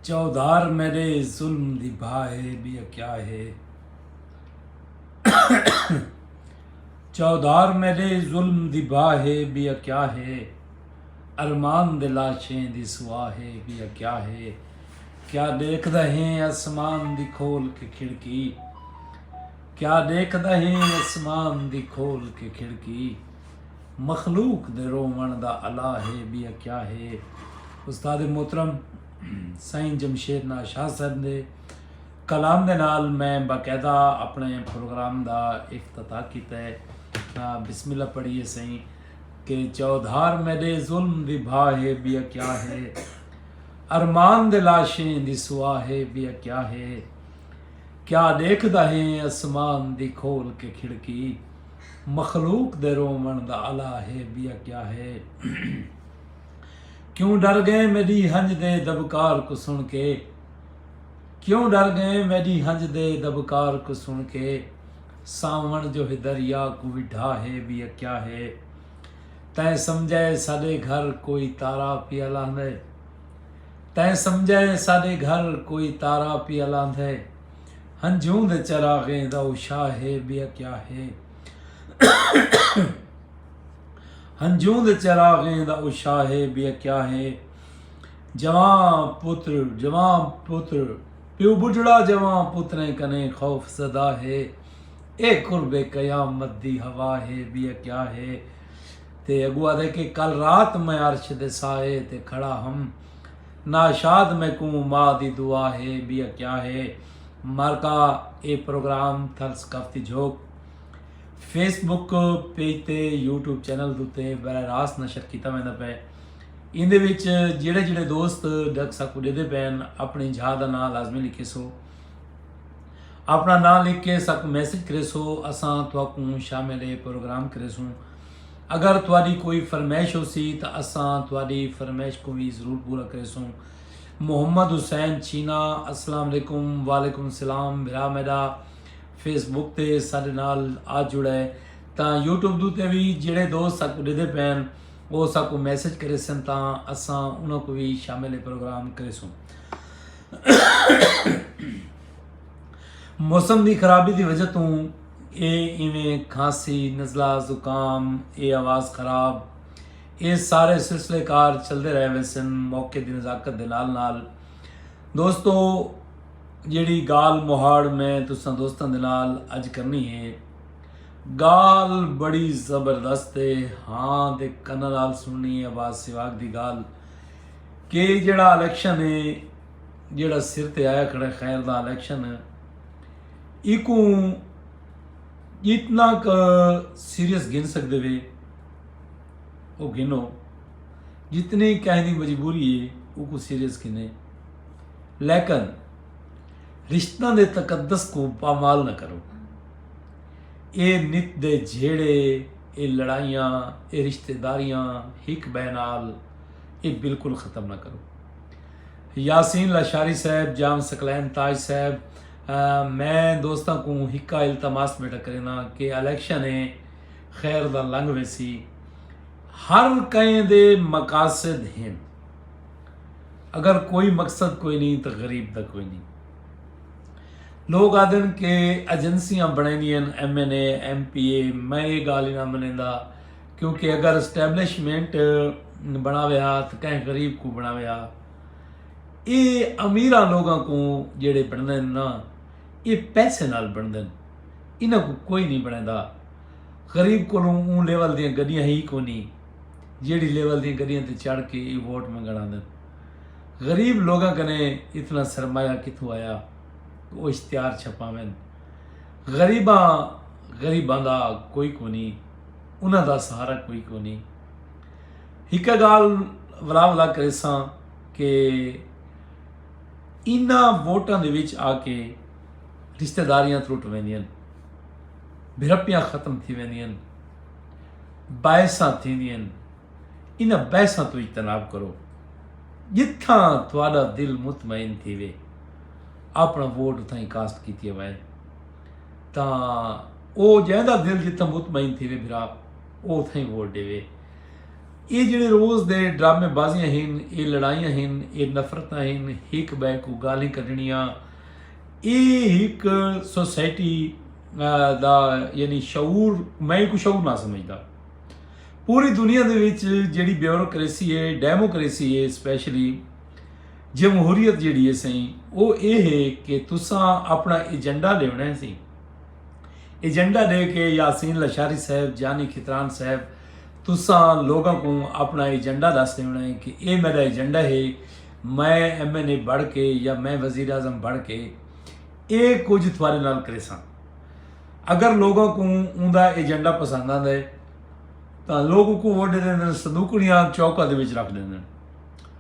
چودھار میرے ظلم دی بھا ہے بیا کیا ہے چودھار میرے ظلم دی بھا ہے بیا کیا ہے ارمان دے لاشیں دی سوا ہے بیا کیا ہے کیا دیکھ دا ہے اسمان دی کھول کے کھڑکی کیا دیکھ دا ہے اسمان دی کھول کے کھڑکی مخلوق دے روون دا الا ہے بیا کیا ہے استاد محترم سائیں جمشید ناز شاہ صاحب دے کلام دے نال میں باقاعدہ اپنے پروگرام دا افتتاح کیتا ہے بسم اللہ پڑھیے سائیں کہ چودھار میڈے ظلم دی بھا ہے بیا کیا ہے ارمان دے لاشیں دی سوا ہے بیا کیا ہے کیا دیکھ دا ہے اسمان دی کھول کے کھڑکی مخلوق دے روون دا الا ہے بیا کیا ہے کیوں ڈر گئے میڈی ہنج دے دبکار کو سن کے کیوں ڈر گئے میڈی ہنج دے دبکار کو سن کے ساون جو ہے دریا کو وڈھا ہے بیا کیا ہے تیں سمجھائے ساڈے گھر کوئی تارا پیا لاندے تیں سمجھائے ساڈے گھر کوئی تارا پیا لاندے ہنجھوں دے چراغیں دا او شاہ ہے ٻیا کیا ہے ہنجھوں دے چراغیں دا او شاہ ہے ٻیا کیا ہے جوان پتر جوان پتر پیو بڈھڑا جوان پتریں کنے خوف زدہ ہے اے قرب قیامت دی ہوا ہے بیا کیا ہے تے اگوا دے کہ کل رات میں عرش دے سائے تے کھڑا ہم ناشاد میکوں ماء دی دعا ہے بیا کیا ہے مارکا اے پروگرام تھل ثقافتی جھوک فیس بک پیج تے یوٹیوب چینل دوتے براہ راست نشر کیتا ویندا پے ایندے وچ جڑے جڑے دوست ڈک ساکو ڈے دے پین اپنی جھا دا نام لازمی لکھے سو اپنا نام لکھ کے ساکو میسج کرے سو اساں تھوکوں شامل اے پروگرام کرے سوں اگر تہاݙی کوئی فرمائش ہوسی تاں اساں تہاݙی فرمائش کوں وی ضرور پورا کریسوں۔ محمد حسین چھینا السلام علیکم وعلیکم السلام بھرا میݙا فیس بک تے ساݙے نال آ جڑ اے تاں یوٹیوب دو تے وی جیڑھے دوست ساکوں ݙیدھے پئن او ساکوں میسج کریسن تاں اساں انہاں کوں وی شامل پروگرام کریسوں۔ موسم دی خرابی دی وجہ توں اے ایویں کھانسی نزلہ زکام اے آواز خراب اے سارے سلسلے کار چلدے رہ ویسن موقع دی نزاکت دے نال نال دوستو جیڑی گال مہاڑ میں تساں دوستاں دے نال اج کرنی ہے گال بڑی زبردست ہے ہاں دے کنہ نال سننی ہے آواز سواگ دی گال کہ جیڑا الیکشن ہے جیڑھا سر تے آیا کھڑا ہے خیر دا الیکشن ایکوں جتنا کا سیریس گھن سکدے وے او گھنو جتنی کہیں دی مجبوری ہے او کو سیریس گھنے لیکن رشتہ دے تقدس کو پامال نہ کرو اے نت دے جھیڑے اے لڑائیاں اے رشتہ داریاں ہک بینال اے بالکل ختم نہ کرو یاسین لاشاری صاحب جام سکلین تاج صاحب میں دوستاں کو ہکا التماس بیٹا کرینا کہ الیکشن ہے خیر دا لنگ ویسی ہر کہیں دے مقاصد ہیں اگر کوئی مقصد کوئی نہیں تو غریب دا کوئی نہیں لوگ آدن کہ ایجنسیاں بنے دیا M N A M P A میں یہ گال ہی نہ منے دا کیونکہ اگر اسٹیبلشمنٹ بناوے ہا تو کہیں غریب کو بناوے ہا اے امیران لوگاں کو جیڑے بننے نا اے پیسے نال بننے انہاں کو کوئی نہیں بنے دا غریب کو لوں اون لیول دیاں گڑیاں ہی کو نہیں جیڑی لیول دیاں گڑیاں تے چڑھ کے اے ووٹ منگڑا دن غریب لوگاں کنے اتنا سرمایہ کتھو آیا وہ اشتہار چھپاویں غریباں غریباں دا کوئی کو نہیں انہاں دا سہارا کوئی کو نہیں ہک گال ولا ولا کریساں کہ انہاں ووٹاں دے وچ آ کے رشتہ داریاں ترٹ ویندیاں بھرپیاں ختم تھی ویندیاں بائساں تھی ویندیاں انہاں بائساں تو اجتناب کرو جتھاں تھوڑا دل مطمئن تھی وے اپنا ووٹ اتھاں ہی کاسٹ کیتی ہوئے تاں او جیندا دل جتھاں مطمئن تھیوے بھرا او اتھاں ہی ووٹ ڈیوے اے جڑے روز دے ڈرامے بازیاں ہن اے لڑائیاں ہن اے نفرتاں ہن ہک بے کو گالیں کڈنیاں اے ہک سوسائٹی دا یعنی شعور میں کو شعور نہ سمجھدا پوری دنیا دے وچ جڑی بیوروکریسی ہے ڈیموکریسی ہے اسپیشلی جمہوریت جیڑھی ہے سئیں او اے ہے کہ تساں اپنا ایجنڈا ڈیونڑاں ہے سئیں ایجنڈا ڈے کے یاسین لشاری صاحب جانی کھتران صاحب تساں لوگاں کوں اپنا ایجنڈا دس ڈیونڑاں ہے کہ اے میرا ایجنڈا ہے میں ایم این اے بڑھ کے یا میں وزیر اعظم بڑھ کے اے کچھ تھوارے نال کریساں اگر لوگاں کوں اون دا ایجنڈا پسند آندا ہے تاں لوگ کو ووٹ دے دیندے صندوق نیاں چوکا دے وچ رکھ دیندے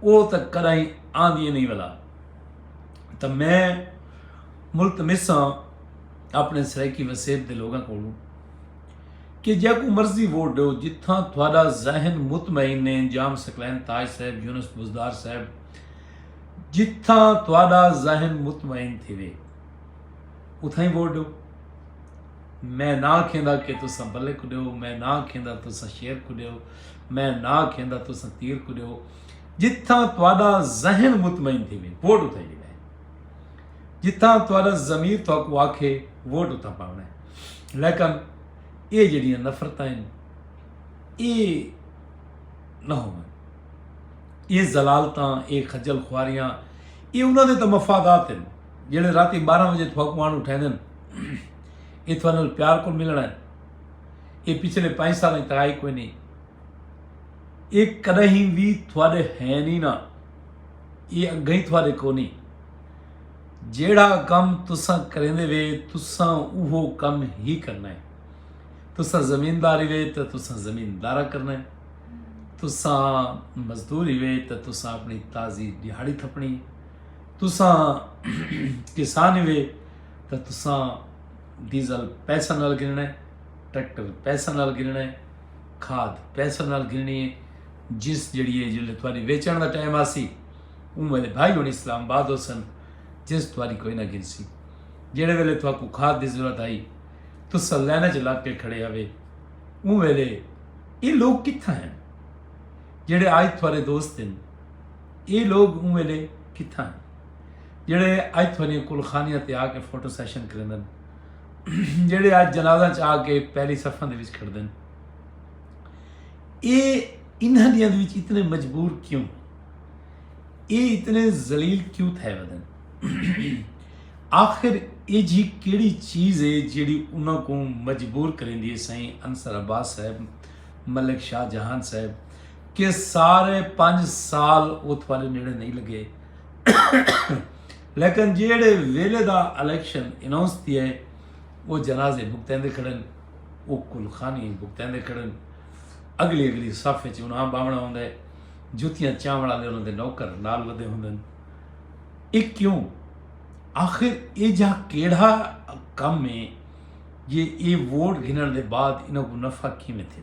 او تاں کݙاہیں آندیاں نئیں ولا تاں میں ملتمس ہاں اپݨے سرائیکی وسیب دے لوگاں کولوں کہ جیکوں مرضی ووٹ ݙیو جتھاں تہاݙا ذہن مطمئن ہے انجام سکلین تاج صاحب یونس بزدار صاحب جتھاں تہاݙا ذہن مطمئن تھیوے اتھاں ہی ووٹ ݙیو میں نہ آکھیندا کہ تساں بلے کوں ڈیو میں نہ آکھیندا تساں شیر کوں ڈیو میں نہ آکھیندا تساں تیر کوں ڈیو جتھاں تہاڈا ذہن مطمئن تھی وے ووٹ اتھاں ہی ڈیوے جتھاں تہاڈا ضمیر تہاکوں آکھے ووٹ اتھاں پاونا ہے لیکن اے جڑیاں نفرتاں ہیں اے نہ ہون اے زلالتاں اے خجل خواریاں اے انہاں دے تے مفادات ہیں جیڑھے راتی ٻارہاں وجے تھواکوں آن اٹھیندن اے تھوڑے نال پیار کول ملنا ہے اے پچھلے پنج سال وچ ترائی کوئی نہیں اے کدی وی تھوڑے ہے نہیں نا اے اگے ہی تھوڑے کو نہیں جیڑھا کم تساں کریندے وے تساں اوہو کم ہی کرنا ہے تساں زمینداری وے تے تساں زمیندارا کرنا ہے تساں مزدوری وے تے تساں اپنی تازی دیہاڑی تھپنی ہے تساں کسان ہی وے تاں تساں ڈیزل پیسہ نال گھننا ہے ٹریکٹر پیسہ نال گھننا ہے کھاد پیسہ نال گھننی ہے جس جڑی ہے جلے تھوڑی ویچن دا ٹائم آسی اون میرے بھائی ہونی اسلام آباد ہو سن جس تھوڑی کوئی نہ گھن سی جڑے ویلے تھوڑا کو کھاد دی ضرورت آئی تو سلینا چ لگ کے کھڑے ہوئے اون ویلے یہ لوگ کتھا ہیں جڑے آج تھوڑے دوست ہیں ایہ لوگ اوں ویلے کتھاں ہن جیڑھے اج تھوڑیاں کلخانیاں تے آ کے فوٹو سیشن کریندن جیڑھے اج جنازہ چ آ کے پہلی صفاں دے وچ کھڑدن اے انہاں دیاں دے وچ اتنے مجبور کیوں اے اتنے ذلیل کیوں تھے ودن آخر اے جی کیڑی چیز ہے جیڑی انہاں کو مجبور کریں دیئے سائیں انصر عباس صاحب ملک شاہ جہان صاحب کہ سارے پنج سال اوتھ والے نیڑے نہیں لگے لیکن جیڑے ویلے دا الیکشن اناؤنس تھی ہے وہ جنازے بھگتیں دے کھڑن وہ کلخانی بھگتیں دے کھڑن اگلی اگلی صف وچ انہاں باونا ہوندا ہے جوتیاں چاوڑ والے انہاں دے نوکر نال ودے ہوندے ہیں یہ کیوں آخر یہ جا کیڑا کم ہے جی یہ ووٹ گھنن دے بعد انہاں کو نفع کیویں تھے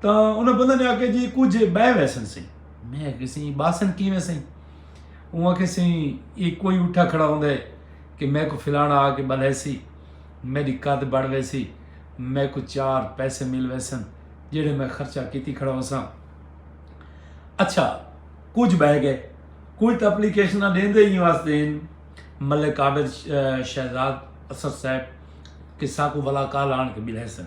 تاں انہاں بندہ نے آکھیا جی کجھ بہ ویسن سہی میں آکھیا سی باسن کیویں سہی اوں آکھیا سی یہ کوئی اٹھا کھڑا ہوندا ہے کہ میں کو فلانا آ کے بلے سی میری قد بڑھ ویسی میں کو چار پیسے مل ویسن جڑے میں خرچہ کیتی کھڑا ہوسا اچھا کچھ بہ گئے کچھ تو اپلیکیشن دین دے ہی واسطے ہیں ملک عابد شہزاد اسد صاحب کہ ساکو ولا کال آن کے ملے سن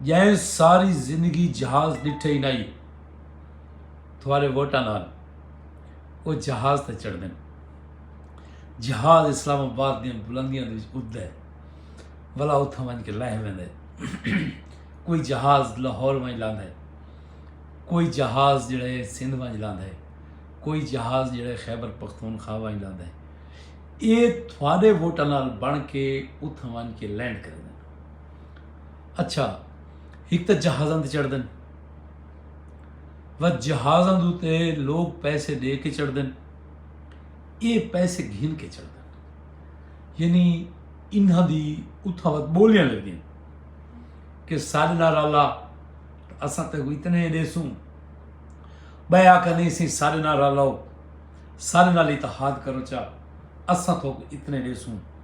جئیں ساری زندگی جہاز ڈٹھے ہی نائی تھوارے ووٹاں نال وہ جہاز تے چڑھ دیں جہاز اسلام آباد دیا بلندیاں دے اٹھ دے ولا اتھا ون کے لہ ویندے کوئی جہاز لاہور ون لاند ہے کوئی جہاز جڑے سندھ ون لاند ہے کوئی جہاز جڑے خیبر پختونخوا ون لاند ہے اے تھوارے ووٹاں نال بن کے اتھا ون کے لینڈ کر دیں اچھا ہک تے جہازاں تے چڑھ دن و جہازاں دو تے لوگ پیسے دے کے چڑھ دن اے پیسے گھن کے چڑھ دن یعنی انہاں دی اتھا وقت بولیاں لگ دیں کہ سال نار اللہ اساں تے کوئی اتنے دے سوں بے آکا نہیں سی سال نار اللہ سال نال اتحاد کرو چا اساں تو اتنے دے سوں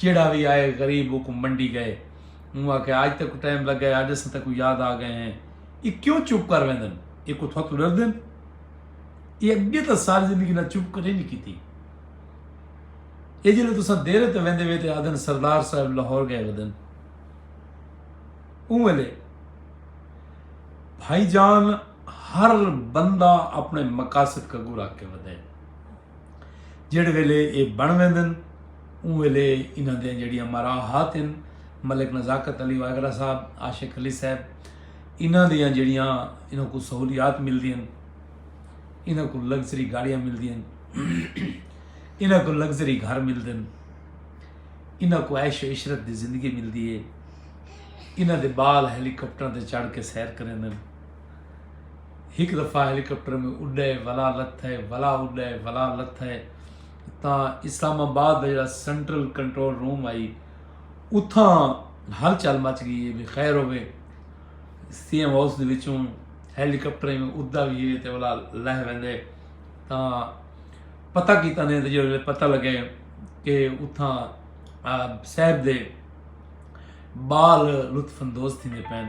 جیڑھا وی آئے غریب اوکوں منڈی گئے۔ اوں آکھیا آج تیکوں ٹائم لگا ہے آج اساں تیکوں یاد آ گئے ہیں۔ اے کیوں چپ کر ویندن اے کو تھوتوں ڈردن۔ اے اگے تاں ساری زندگی نال چپ کدے نی کیتی۔ اے جیلے تساں دیرے تے ویندے وے تے آدھن سردار صاحب لاہور گئے ودن۔ اوں ویلے بھائی جان ہر بندہ اپنے مقاصد کگو رکھ کے ودے۔ جہڑے ویلے ایہ بݨ ویندن اوں ویلے انہاں دیاں جہڑیاں مراحات ہن ملک نزاکت علی واگڑا صاحب عاشق علی صاحب انہاں دیاں جہڑیاں انہاں کو سہولیات ملدیاں انہاں کو لگژری گاڑیاں ملدیاں انہاں کو لگژری گھر ملتے ہیں انہاں کو عیش و عشرت دی زندگی ملدی ہے انہاں دے بال ہیلی کاپٹراں تے چڑھ کے سیر کریں ہک دفعہ ہیلی کاپٹر میں اڈے ولا لتھے ولا اڈے ولا لتھے تا اسلام آباد جڑا سینٹرل کنٹرول روم آئی اتھا ہل چل مچ گئی ہے بھی خیر ہوے سی ایم ہاؤس دے وچوں ہیلی کاپٹر میں ادا بھی ہے تے ولا لہ ویندے تا پتہ کیتا نے تے جڑے پتہ لگے کہ اتھا صاحب دے بال لطف اندوز تھیندے پین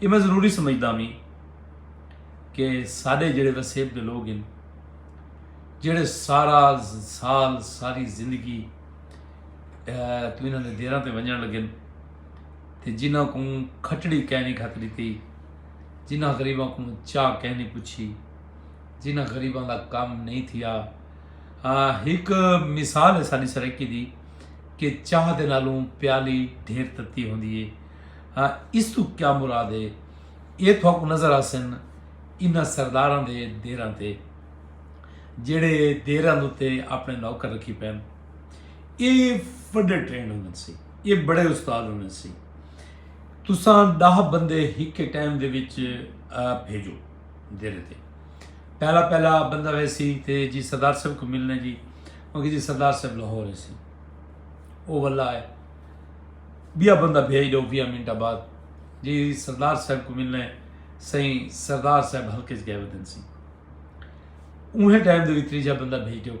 یہ میں ضروری سمجھدا ہوں کہ سارے جڑے وسیب دے لوگ ہیں جڑے سارا سال ساری زندگی تو انہوں نے دیرہ تے ونجن لگے تے جنہ کو کھٹڑی کہنی کھت لیتی جنہ غریبہ کو چاہ کہنی پچھی جنہ غریبہ دا کام نہیں تھیا ایک مثال ہے ساری سرکی دی کہ چاہ دے نالوں پیالی ڈھیر تتی ہوں دیئے ہا اس توں کیا مراد ہے ایہ تھوکوں نظر آسن انہاں سرداراں دے دیراں تے جیڑھے دیراں دوتے اپنے نوکر رکھی پین ایہ وڈے ٹرینڈ ہونے سی ایہ بڑے استاد ہونے سی تساں دہ بندے ہک ٹائم دے وچ بھیجو دیرے تے پہلا پہلا بندہ ویسی تے جی سردار صاحب کو ملنے جی مگر جی سردار صاحب لاہور سی او واللہ ہے بیا بندہ بھیج ڈو ویہہ منٹاں بعد جی سردار صاحب کو ملنے سئیں سردار صاحب حلقے چ گئے ودن سی اوہیں ٹائم دے وی تریجا بندہ بھیج ڈو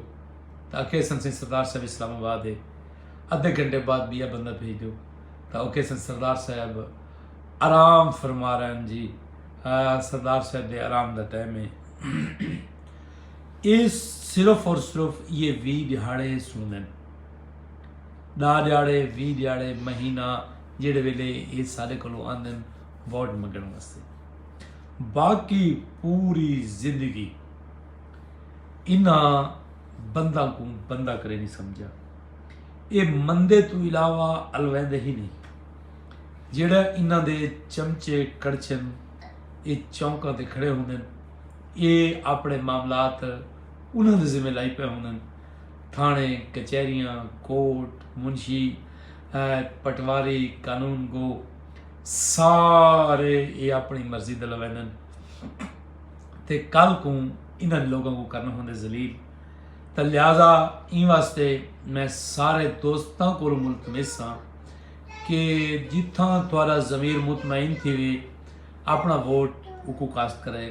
تا اکھے سن سئیں سردار صاحب اسلام آباد ہے ادھے گھنٹے بعد بیا بندہ بھیج ڈو تا اکھے سن سردار صاحب آرام فرما رہے ہیں جی سردار صاحب دے آرام دا ٹائم ہے یہ صرف اور صرف یہ وی دیہاڑے سن دین ݙاہ ݙیہاڑے، ویہہ ݙیہاڑے، مہینہ جیڑھے ویلے ایہ ساݙے کولوں آندن ووٹ منگݨ واسطے۔ باقی پوری زندگی انہاں بنداں کوں بندہ کرے نی سمجھیا۔ ایہ مندے توں علاوہ الویندے ہی نی۔ جیڑھے انہاں دے چمچے کڑچھن ایہ چونکاں تے کھڑے ہوندن۔ ایہ آپݨے معاملات انہاں دے ذمے لائی پئے ہوندن۔ تھاݨے، کچہریاں، کورٹ، منشی، ایت، پٹواری، قانون گو سارے اے اپݨی مرضی دے لویندن تے کل کوں انہاں لوکاں کوں کرݨ ہوندے ذلیل تاں لہذا ایں واسطے میں سارے دوستاں کولوں ملتمس ہاں کہ جتھاں تہاݙا ضمیر مطمئن تھیوے اپݨا ووٹ اوکوں کاسٹ کرائے۔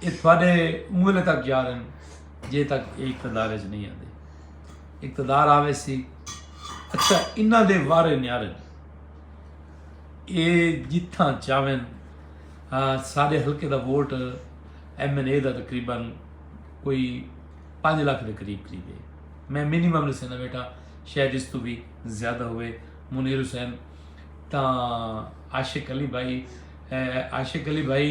اے تہاݙے اوں ویلے تک یار ہن جے تک اے اقتدار اچ نہیں آندے اقتدار آوے سی اچھا انہاں دے وارے نیارن اے جتھاں چاون ہاں سارے حلقے دا ووٹ ایم این اے دا تقریبا کوئی پانچ لاکھ دے قریب قریب ہے میں منیمم نے سینا بیٹھا شاید اس تو بھی زیادہ ہوئے منیر حسین تاں عاشق علی بھائی عاشق علی بھائی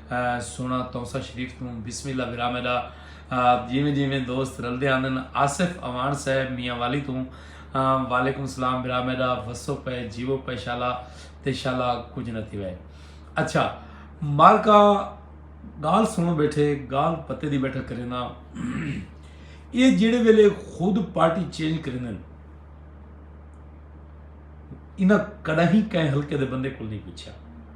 سونا تونسہ شریف توں بسم اللہ برا میڈا جیویں جیویں دوست رلدے آندن آصف اوان صاحب میاں والی توں وعلیکم السلام برا میڈا وسو پے جیو پے شالا تے شالا کچھ نہ تھی وے اچھا مالکا گال سنو بیٹھے گال پتے دی بیٹھا کرینا یہ جیڑے ویلے خود پارٹی چینج کرینا انہاں کڑا ہی کہیں ہلکے دے بندے کل نہیں پوچھا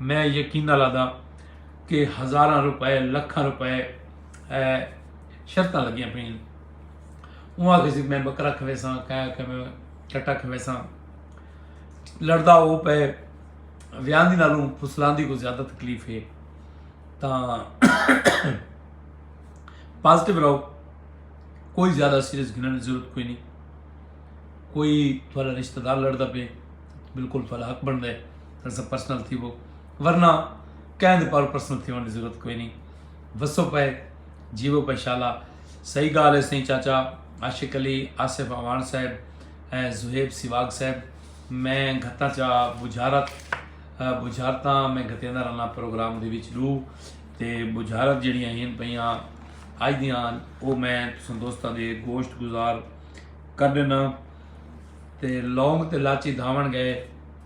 میں یقین نال آہداں کہ ہزاراں روپے لکھاں روپے شرطاں لگیاں پئین اوں آکھے سی میں بکرا کھویساں کہہ آکھے میں کٹا کھویساں لڑدا او پے ویاندی نالوں پھسلاندی کو زیادہ تکلیف ہے تاں پازیٹیو رہو کوئی زیادہ سیریس گھنن دی ضرورت کوئی نہیں کوئی تھوڑا رشتہ دار لڑدا پے بالکل تھوڑا حق بندا ہے تساں پرسنل تھیوو ورنہ کہیں دے پاروں پرسنل تھیوݨ دی ضرورت کوئی نہیں وسو پئے جیوو پئے شالا صحیح گال ہے سائیں چاچا عاشق علی آصف اوان صاحب زہیب سیواگ صاحب میں گھتاں چا بجھارت بجھارتاں میں گھتیندہ رہنا پروگرام دے وچ ڈو تے بجھارت جڑیاں ہیں پئیاں آج دیاں او میں تساں دوستاں دے گوشت گزار کر دینا تے لونگ تے لاچی دھاون گئے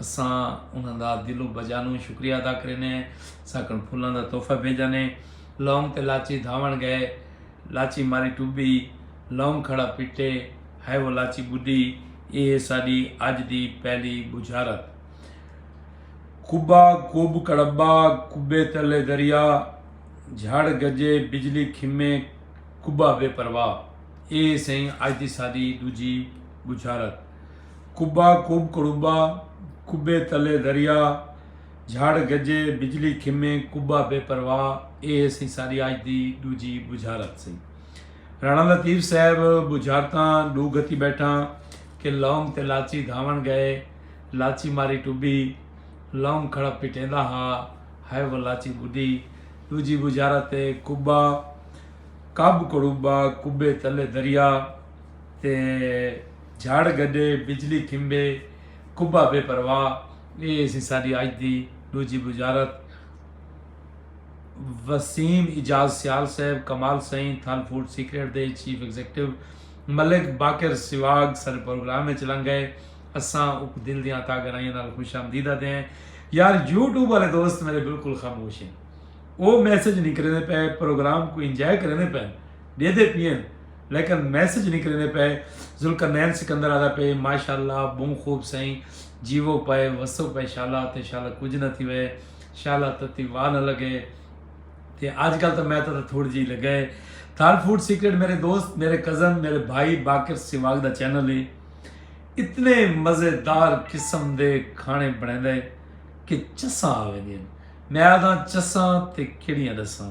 اساں انہاں دا دلوں بجانوں شکریہ ادا کرینے ساکن پھلاں دا تحفہ بھیجانے لونگ تے لاچی دھاون گئے لاچی ماری ٹبی لونگ کھڑا پٹے ہائے وہ لاچی بڈی اے ہے ساڈی اج دی پہلی بجھارت کبا کب کڑبا کبے تلے دریا جھڑ گجے بجلی کھمے کبا بے پرواہ اے ہے سئیں اج دی ساڈی دوجی بجھارت۔ کبا کب کڑوبا کبے تلے دریا جھڑ گجے بجلی کھمے کبا بے پرواہ اے سی ساڈی اج دی ڈوجی بجھارت سی رانا لطیف صاحب بجھارتاں ڈو گھتی بیٹھاں کہ لونگ تے لاچی دھاون گئے لاچی ماری ٹبی لونگ کھڑا پٹیندا ہا ہائے وہ لاچی بڈی ڈوجی بجھارت کبا کب کڑوبا کبے تلے دریا تے جھڑ گڈے بجلی کھمبے کبھا بے پرواہ اے سی ساڈی اج دی ڈوجھی بجارت وسیم اعجاز سیال صاحب کمال سئیں تھل فوڈ سیکرٹ دے چیف ایگزیکٹو ملک باقر سواگ سارے پروگرام وچ لنگ گئے اساں اک دل دیاں تا گرائیاں نال خوش آمدید آتے ہیں یار یوٹیوب والے دوست میرے بالکل خاموش ہیں او میسج نہیں کریں پے پروگرام کو انجوائے کریں پے ڈیندے پین لیکن میسج نکلیندے پئے ذوالقرنین سکندر آدا پئے ماشاءاللہ بہوں خوب سائیں جیوو پئے وسو پئے شالا تے شالا کچھ نہ تھی وے شالا تتی واہ نہ لگے تے آج کل تو میں تو تھوڑی جی لگا ہے تھال فوڈ سیکرٹ میرے دوست میرے کزن میرے بھائی باقر سواگ دا چینل ہے اتنے مزیدار قسم دے کھانے بنے دے کہ چساں آوے دین میں آدھا چساں تے کیڑیاں دساں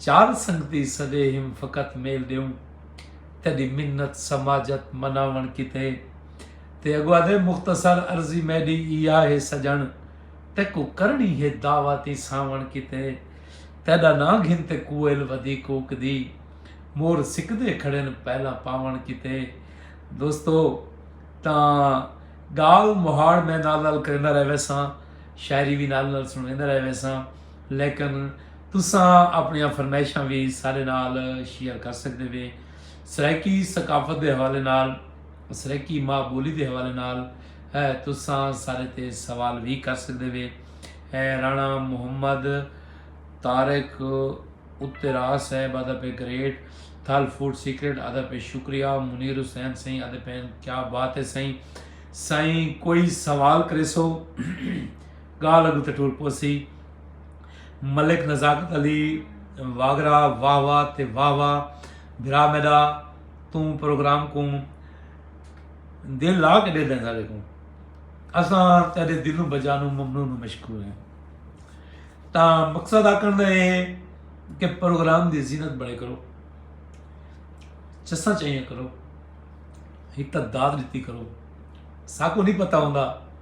چار سنگتی سدے ہیم فقط میل ڈیوں تیڈی منت سماجت مناون کیتے تے اگو آدھے مختصر عرضی میڈی ایا ہے سجن تیکو کرنی ہے دعواتی ساون کیتے تیڈا نا گھن تے کوئل ودی کوک دی مور سکدے کھڑن پہلا پاون کیتے دوستو تاں گال مہاڑ میں نال نال کرندا رہے ویساں شاعری بھی نال نال سنویندا رہے ویساں لیکن تساں اپنیاں فرمائشاں وی ساڈے نال شیئر کر سکدے وے سرائیکی ثقافت دے حوالے نال سرائیکی ماں بولی دے حوالے نال تساں سارے تے سوال وی کر سکدے وے رانا محمد طارق اترا صاحب آدھا پہ گریٹ تھل فوڈ سیکرٹ آدھا پہ شکریہ منیر حسین سائیں آدھا پہ کیا بات ہے سائیں سائیں کوئی سوال کرے سو گالھ اگوں تے ٹر پوسی۔ ملک نزاکت علی واگرا واہ واہ تے واہ واہ بھرا میڈا توں پروگرام کوں دل لا کے ڈیدھاں ساڈے کوں اساں تیڈے دل و بجانوں ممنون و مشکور ہیں تاں مقصد آکھن دا اے ہے کہ پروگرام دی زینت بڑے کرو چساں چاہیاں کرو ہک تا داد ڈتی کرو ساکوں نہیں پتہ ہوندا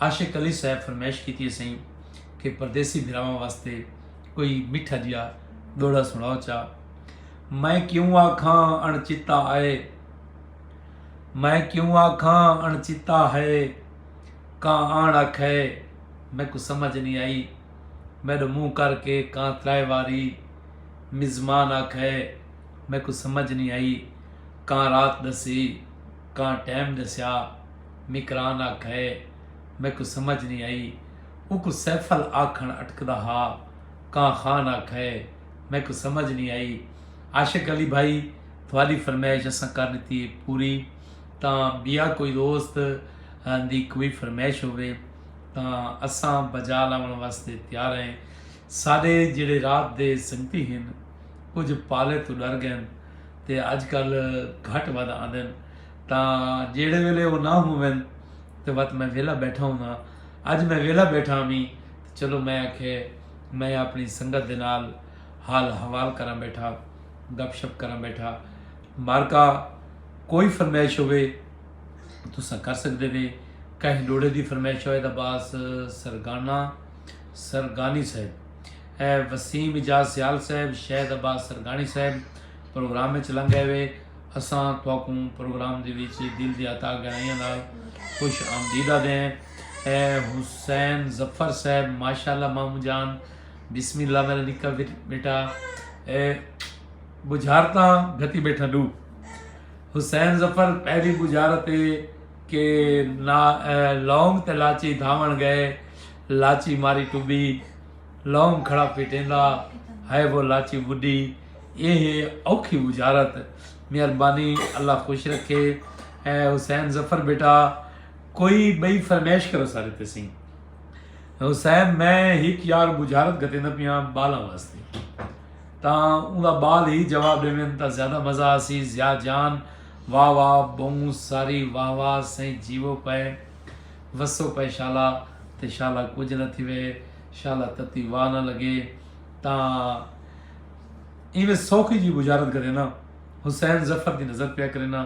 عاشق علی صاحب فرمائش کیتی ہسئیں کہ پردیسی بھراواں واسطے کوئی میٹھا جیا ڈوہڑا سنڑاؤ چا میں کیوں آکھاں اݨ چتا آئے میں کیوں آکھاں اݨ چتا ہے کاں آن آکھے میکوں سمجھ نہیں آئی میڈو منہ کر کے کاں ترائے واری مزمان آکھے میکوں سمجھ نہیں آئی کاں رات ڈسی کاں ٹیم ڈسیا میکران آکھئے میکوں سمجھ نی آئی اوکوں سیفل آکھݨ اٹکدا ہا کاں خان آکھئے میکوں سمجھ نی آئی عاشق علی بھائی تہاݙی فرمائش اساں کر ݙتی ہے پوری تاں ٻیا کوئی دوست دی کوئی فرمائش ہووے تاں اساں بجا لاوݨ واسطے تیار ہیں ساݙے جیڑھے رات دے سنگتی ہن کجھ پالے توں ݙر ڳئن تے اڄ کل گھٹ ودھ آندن تاں جیڑھے ویلے او نہ ہوون تے وت میں ویلھا بیٹھا ہونداں۔ اج میں ویلھا بیٹھا ہوویں تے چلو میں آکھے میں اپݨی سنگت دے نال حال احوال کراں بیٹھا، گپ شپ کراں بیٹھا۔ مارکا کوئی فرمائش ہووے تساں کر سڳدے وے۔ کہیں ݙوہڑے دی فرمائش ہووے تاں باس سرگاݨا سرگاݨی صاحب اے وسیم اعجاز سیال صاحب شہد عباس سرگاݨی صاحب پروگرام وچ لنڳ آئے وے۔ اساں تہاکوں پروگرام دے وچ دل دیاں تہہ گہرائیاں نال خوش آمدید آدھے ہیں۔ اے حسین ظفر صاحب ماشاءاللہ ماموں جان بسم اللہ میرا نکا بیٹا اے بجھارتاں گھتی بیٹھا ڈو حسین ظفر پہلی بجھارت اے کہ نا لونگ تے لاچی دھاون گئے لاچی ماری ٹبی لونگ کھڑا پیٹیندا ہئے وہ لاچی وڈی اے ہے اوکھی وجارت مہربانی اللہ خوش رکھے اے حسین ظفر بیٹا کوئی بئی فرمیش کرو سارے تے سین حسین میں ہک یار بجارت گتیندا پیاں بالاں واسطے تاں اوندا بال ہی جواب دیوین تاں زیادہ مزہ آسی ضیا جان واہ واہ بہوں ساری واہ واہ سائیں جیو پئے وسو پئے شالا تے شالا کجھ نہ تھیوے شالا تتی واہ نہ لگے تاں ایویں سوکھی جی بجارت کرے نا حسین ظفر دی نظر پیا کرے نا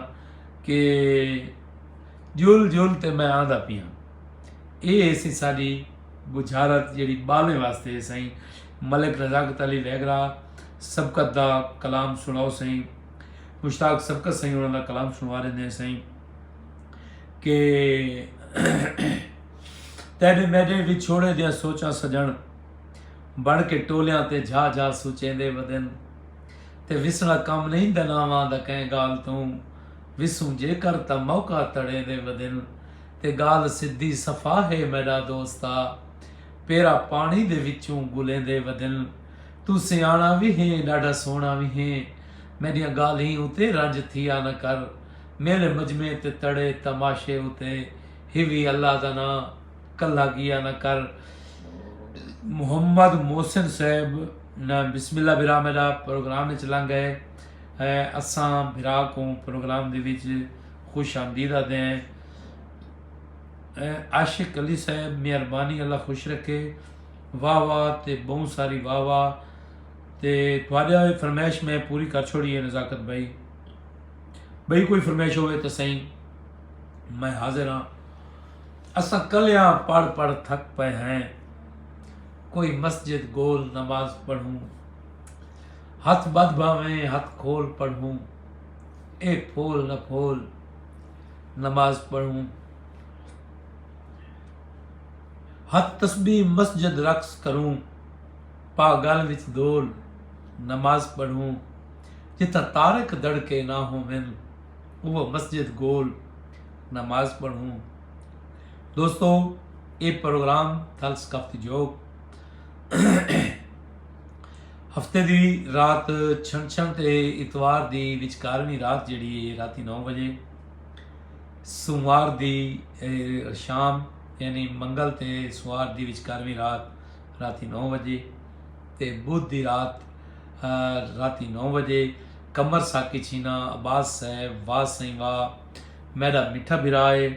کہ جل جل تے میں آندا پیاں اے ایسی ساڈی بجارت جیڑی بالیں واسطے سائیں ملک رزاقت علی ویگرا سبقت دا کلام سناؤ سائیں مشتاق سبقت سائیں انہاں دا کلام سنوا رہے ہیں سائیں کہ تیڈے میڈے وچھوڑے دیاں سوچاں سجن بن کے ٹولیاں تے جھا جھا سوچیندے ودن تے وسنا کم نہیں دناواں دا کہیں گال توں وسوں جے کر تا موقع تڑے دے ودن تے گال سدھی صفا ہے میڈا دوستا پیرا پانی دے وچوں گلیں دے ودن تو سیانا بھی ہیں ڈاڈا سونا بھی ہیں میڈیاں گالیں اتے رنج تھیا نہ کر میلے مجمعے تے تڑے تماشے اتے ہیوی اللہ دا ناں کلھا گیا نہ کر محمد محسن صاحب نہ بسم اللہ بھرا میرا پروگرام وچ لنگ گئے اساں بھرا کو پروگرام دے وچ خوش آمدید آدھے ہیں عاشق علی صاحب مہربانی اللہ خوش رکھے واہ واہ تے بہوں ساری واہ واہ تے تھوڑے فرمائش میں پوری کر چھوڑی ہے نزاکت بھائی بھئی کوئی فرمائش ہوئے تو سہی میں حاضر ہاں اساں کلیاں پڑھ پڑھ تھک پے ہیں کوئی مسجد گول نماز پڑھوں ہتھ بدھ بھاویں ہتھ کھول پڑھوں اے پھول نہ پھول نماز پڑھوں ہتھ تسبیح مسجد رقص کروں پاگل وچ دول نماز پڑھوں جتھاں طارق دڑکے نہ ہوون اوہ مسجد گول نماز پڑھوں دوستو اے پروگرام تھل ثقافتی جوگ ہفتے دی رات چھن چھن تے اتوار دی وچکارویں رات جڑی ہے راتی نو بجے سوموار دی شام یعنی منگل تے سوار دی وچکارویں رات راتی نو بجے تے بدھ دی رات راتی نو وجے قمر ساقی چھینا عباس صاحب واہ سئیں واہ میڈا میٹھا بھرا اے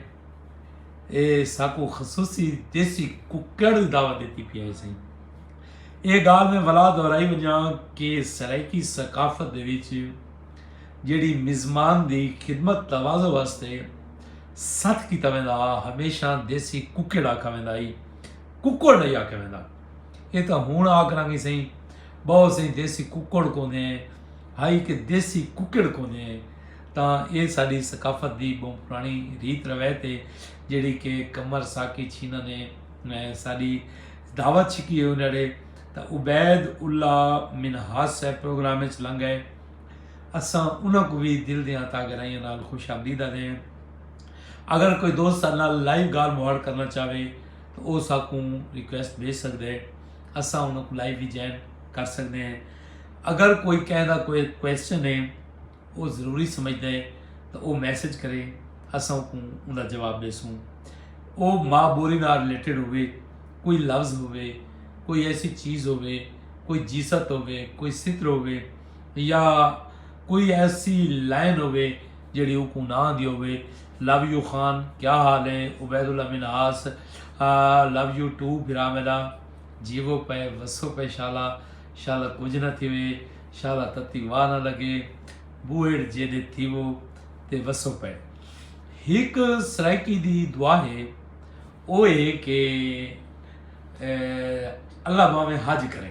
اے ساکوں خصوصی دیسی ککڑ دی دعوت ڈتی پیا اے سئیں اے گال میں ولا دہرائی ونجاں کہ سرائیکی ثقافت دے وچ جیڑی مزمان دی خدمت تواضع واسطے ست کیتا ویندا ہمیشہ دیسی ککڑ آکھا ویندا ہئی ککڑ نہیں آکھا ویندا یہ تاں ہن آ کراں گی سئیں بہت سئیں دیسی ککڑ کونے ہائی کہ دیسی ککڑ کونے تاں اے ساڈی ثقافت دی بہت پرانی ریت روایت ہے جیڑی کہ کمر ساکی چھینا نے ساڈی دعوت چھکی ہے انہڑے تاں عبید اللہ منہاس صاحب پروگرام وچ لنگ گئے اساں انہاں کو بھی دل دیاں تا گرائیاں نال خوش آمدید آدھے ہیں اگر کوئی دوست نال لائیو گال مہاڑ کرنا چاہے او ساکوں ریکویسٹ بھیج سکدے اساں انہاں کوں لائیو وی جوائن کر سکدے ہیں اگر کوئی کہہ دا کوئی کویسچن ہے او ضروری سمجھدا ہے تو او میسج کرے اساں کوں ان دا جواب دیسوں او ماں بولی نال ریلیٹڈ ہوئے کوئی لفظ ہوئے کوئی ایسی چیز ہوئے کوئی جیست ہوئے کوئی ستر ہوئے یا کوئی ایسی لائن ہوئے جیڑھی اوکوں نہ آندی ہووے لو یو خان کیا حال ہیں Obaidullah Minhas love you too بھرا میڈا جیوو پئے وسو پئے شالا شالا کجھ نہ تھیوے شالا تتی واہ نہ لگے بوہیڑ جیڈے تھیوو تے وسو پئے ہک سرائیکی دی دعا ہے او ہے کہ اللہ باویں حج کریں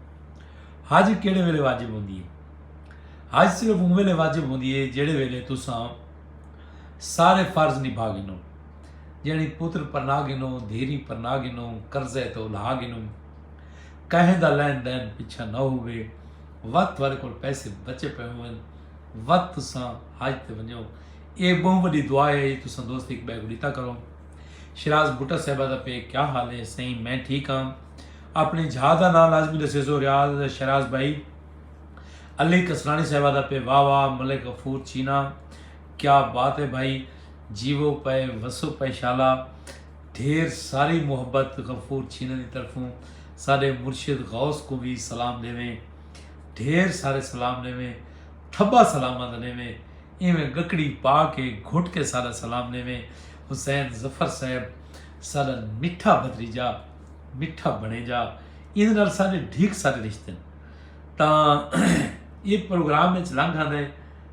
حج کیڑے ویلے واجب ہوندی ہے حج صرف اون ویلے واجب ہوندی ہے جیڑے ویلے تساں سارے فرض نبھا گنو یعنی پتر پرنا گنو دھیری پرنا گنو قرضے تو لا گنو کہیں دا لین دین پیچھا نہ ہوئے وقت تھوڑے کول پیسے بچے پے ہوئے وقت تساں حج تے ونجو اے بہت بڑی دعا ہے یہ تساں دوست ایک بے کو دیتا کرو شراز بھٹا صاحبہ دا پے کیا حال ہے سہی میں ٹھیک ہاں اپنڑیں جھا دا ناں لازمی ڈسیسو ریاض شہراز بھائی علی کسرانی صاحبہ دا پہ واہ واہ ملک غفور چینا کیا بات ہے بھائی جیو پے وسو پے شالا ڈھیر ساری محبت غفور چینا دی طرفوں ساڈے مرشد غوث کو بھی سلام دیویں ڈھیر سارے سلام دیویں تھبا سلامہ دا دیویں ایویں گکڑی پا کے گھٹ کے ساڈا سلام دیویں حسین ظفر صاحب ساڈا مٹھا بھتریجا مٹھا بنے جا ایندے نال سارے ڈھیک سارے رشتے ہیں تاں یہ پروگرام اچ لنگ آندے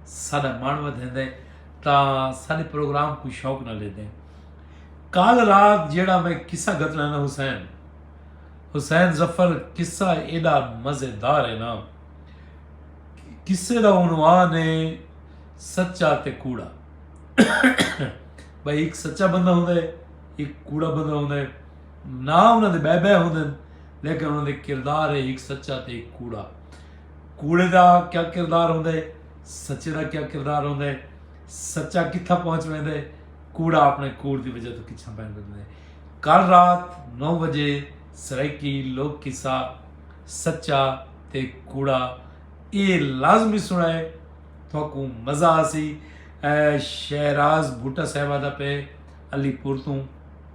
سارا من ودھیندے تاں سارے پروگرام کو شوق نہ لے دیں کال رات جیڑا میں قصہ گھتنا نا حسین حسین ظفر قصہ ایڈا مزیدار ہے نا قصے دا عنوان ہے سچا تے کوڑا بھائی ایک سچا بندہ ہوندے ایک کوڑا بندہ ہوندے ناں انہاں دے بئے بئے ہوندن لیکن انہاں دے کردار ہے ہک سچا تے ہک کوڑا کوڑے دا کیا کردار ہوندا ہے سچے دا کیا کردار ہوندا ہے سچا کتھا پہنچ ویندا ہے کوڑا اپنے کوڑ دی وجہ تو کچھا پہن ویندا ہے کل رات نو بجے سرائیکی لوک قصہ سچا تے کوڑا اے لازمی سنا ہے تھوکوں مزہ آسی شہراز بھوٹا صاحبہ دا پہ علی پور توں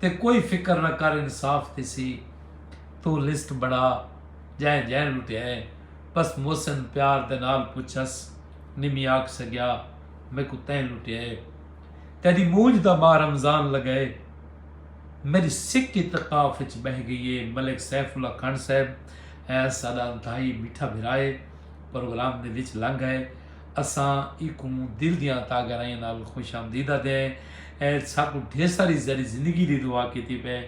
تے کوئی فکر نہ کر انصاف تھیسی توں لسٹ بنڑا جئیں جئیں لٹیائیں بس محسن پیار دے نال پچھس نمی آکھ سگیا میکوں تیں لٹیائے تیڈی مونجھ دا ماہ رمضان لگئے میڈی سک اتقاف اچ بہہ گئی اے ملک سیف اللہ کھنڈ صاحب ساڈا انتہائی میٹھا بھرا اے پروگرام دے وچ لنگ ائے اساں ایکوں دل دیاں تہ گہرائیاں نال خوش آمدید آدھے ہیں۔ اے ساکوں ڈھیر ساری زرعی زندگی دی دعا کیتی پئے۔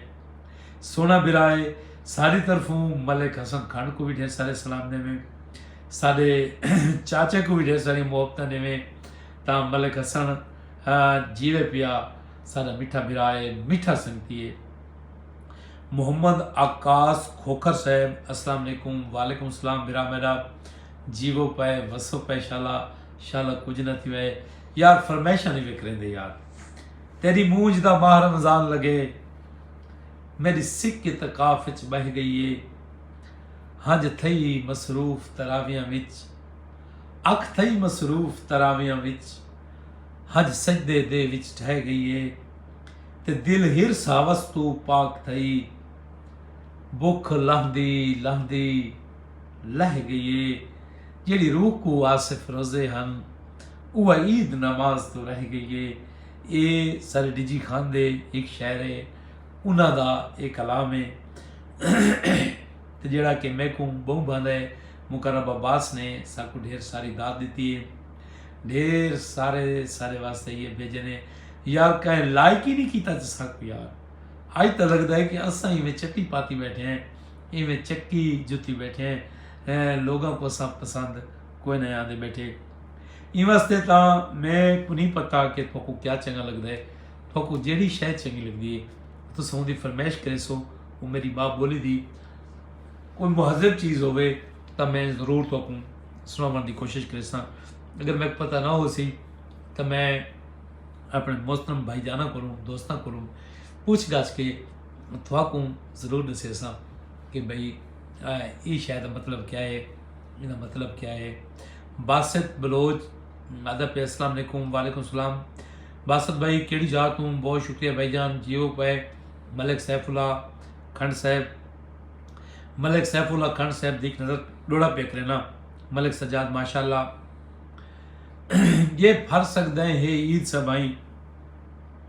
سوہنا برا اے۔ ساڈی طرفوں ملک حسن کھنڈ کوں وی ڈھیر سارے سلام ڈیویں۔ ساڈے چاچے کوں وی ڈھیر ساریاں محبتاں ڈیویں۔ تاں ملک حسن جیوے پیا۔ ساڈا میٹھا برا اے۔ میٹھا سنگتی اے۔ محمد آکاس کھوکھر صاحب السلام علیکم۔ وعلیکم السلام برا میڈا۔ جیوو پئے وسو پئے شالا شالا کجھ نہ تھیو اے یار فرمیشاں نی وکھریندے یار تیڈی مونجھ دا ماہ رمضان لگے میڈی سک اعتکاف اچ بہہ گئی اے ہنج تھئی مصروف تراویاں وچ اکھ تھئی مصروف تراویاں وچ ہنج سجدے دے وچ ڈھہ گئی اے تے دل ہرس ہوس توں پاک تھئی بکھ لہندی لہندی لہہ گئی اے جیڑھی روکو آصف رضے ہن اوہ عید نماز توں رہ گئی اے اے سر ڈجی خان دے ہک شعر اے انہاں دا اے کلام اے تے جیڑھا کہ میکوں بہوں بھاندا اے مقرب عباس نے ساکوں ڈھیر ساری داد ڈتی اے ڈھیر سارے سارے واسطے یہ بھیجے نے یار کہیں لائک ہی نہیں کیتا تے ساکوں یار آج تاں لگدا ہے کہ اساں ہی میں چٹی پاتی بیٹھے ہیں ایویں چکی جتی بیٹھے ہیں لوگاں کو اساں پسند کوئی نہ آندے بیٹھے ایں واسطے تاں میں کو نہیں پتا کہ تھوکو کیا چنگا لگدا ہے تھوکو جیڑی شے چنگی لگدی ہے تساں اوندی فرمائش کرے سو او میری ماں بولی دی کوئی مہذب چیز ہوے تاں میں ضرور تھوکو سناون دی کوشش کرساں اگر میں پتہ نہ ہو سی تاں میں اپنے محترم بھائی جاناں کولوں دوستاں کولوں پوچھ گچھ کے تھواکوں ضرور ݙسیساں کہ بھئی اے شے دا مطلب کیا ہے ایندا مطلب کیا ہے باسط بلوچ آدھا پہ السلام علیکم وعلیکم السلام باسط بھائی کیڑی جا توں بہت شکریہ بھائی جان جیو پائے ملک سیف اللہ کھنڈ صاحب ملک سیف اللہ کھنڈ صاحب دیکھ نظر ڈوڑا پہ کرنا ملک سجاد ماشاء اللہ یہ پھر سکتا ہے عید سبائیں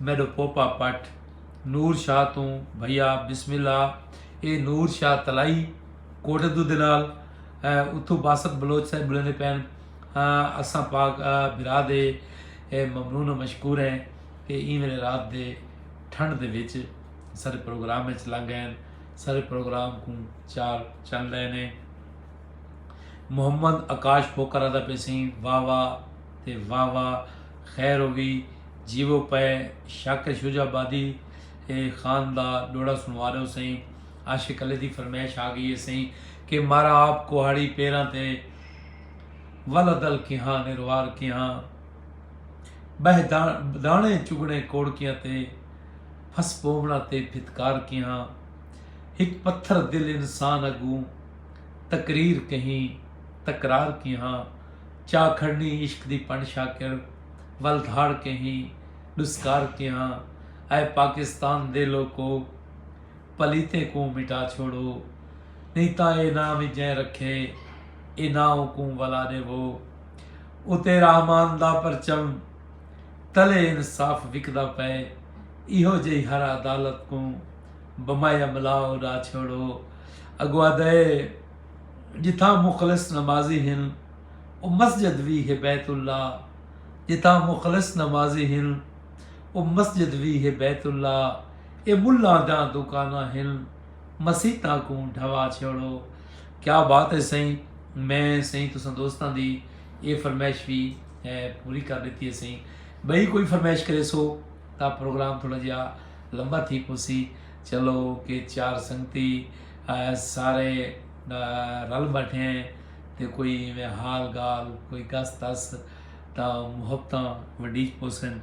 میݙو پوپا پٹ نور شاہ توں بھئیا بسم اللہ اے نور شاہ تلائی کوٹ دو دلال اتھو باسط بلوچ صاحب بلے نے پین اساں پاک برا دے ممنون و مشکور ہیں کہ ایں ویلے رات دے ٹھنڈ دے وچ سارے پروگرام وچ لنگ ہیں سارے پروگرام کو چار چن لے نے محمد آکاش پوکر آدھا پیسیں واہ واہ تے واہ واہ خیر ہووی جیوو پئے شاکر شجاع آبادی اے خان دا ڈوڑا سنوا ڈو سئیں عاشق علی دی فرمیش آ گئی اے سئیں کہ مارا آپ کوہاڑی پیراں تے ولد ال کیہاں نروار کیہاں بہہ دانے چگنے کوڑکیاں تے پھس پوونا تے پھتکار کیہاں ہک پتھر دل انسان اگوں تقریر کہیں تکرار کیہاں چا کھڑنی عشق دی پن شاکر ول دھاڑ کہیں ڈسکار کیہاں اے پاکستان دے لوکو پلیتیں کوں مٹا چھوڑو نئیں تاں اے ناں وی جئیں رکھے اے ناں اوکوں ولا ڈیوو اتے رحمان دا پرچم تلے انصاف وکدا پئے ایہو جئی ہر عدالت کوں بمایا ملا اڈا چھوڑو اگوا دئے جتھاں مخلص نمازی ہن او مسجد وی ہے بیت اللہ جتھاں مخلص نمازی ہن او مسجد وی ہے بیت اللہ اے ملاں دیاں دوکاناں ہن مسیتاں کوں ڈھوا چھیوڑو کیا بات ہے سائیں میں سائیں تساں دوستاں دی اے فرمائش وی پوری کر ڈتی ہے سائیں بھئی کوئی فرمائش کرے سو تا پروگرام تھوڑا جہا لمبا تھی پوسی چلو کہ چار سنگتی سارے رل ٻیٹھیں تے کوئی ایویں حال گال کوئی گس تس تاں محبتاں ونڈیج پوسن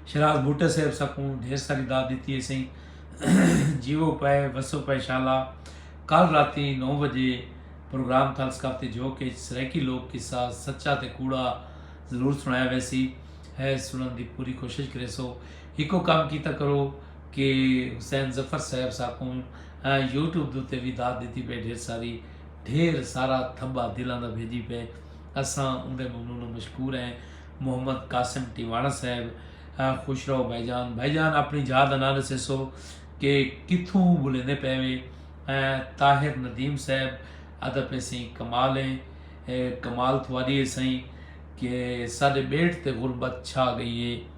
شراز بھٹو صاحب سکوں ڈھیر ساری داد دیتی ہے سائیں جیو پائے وسو پائے شالا کل راتی نو بجے پروگرام تھل ثقافتی جو کہ سرائیکی لوگ قصہ سچا تے کوڑا ضرور سنایا ویسی ہے سنن دی پوری کوشش کرے سو ہکو کام کیتا کرو کہ حسین ظفر صاحب ساکوں یوٹیوب دے اتے وی داد ݙتی پئے ڈھیر ساری ڈھیر سارا تھبا دلاں دا بھیجی پئے اساں اوندے ممنون و مشکور ہیں محمد قاسم ٹیواݨہ صاحب خوش رہو بھائی جان بھائی جان اپݨی جاہ دا ناں ݙسیسو کہ کتھوں ٻولیندے پئے وے طاہر ندیم صاحب آہدا پئے سئیں کمال ہے کمال تھواݙی ہے سئیں کہ ساݙے ٻیٹ تے غربت چھا ڳئی ہے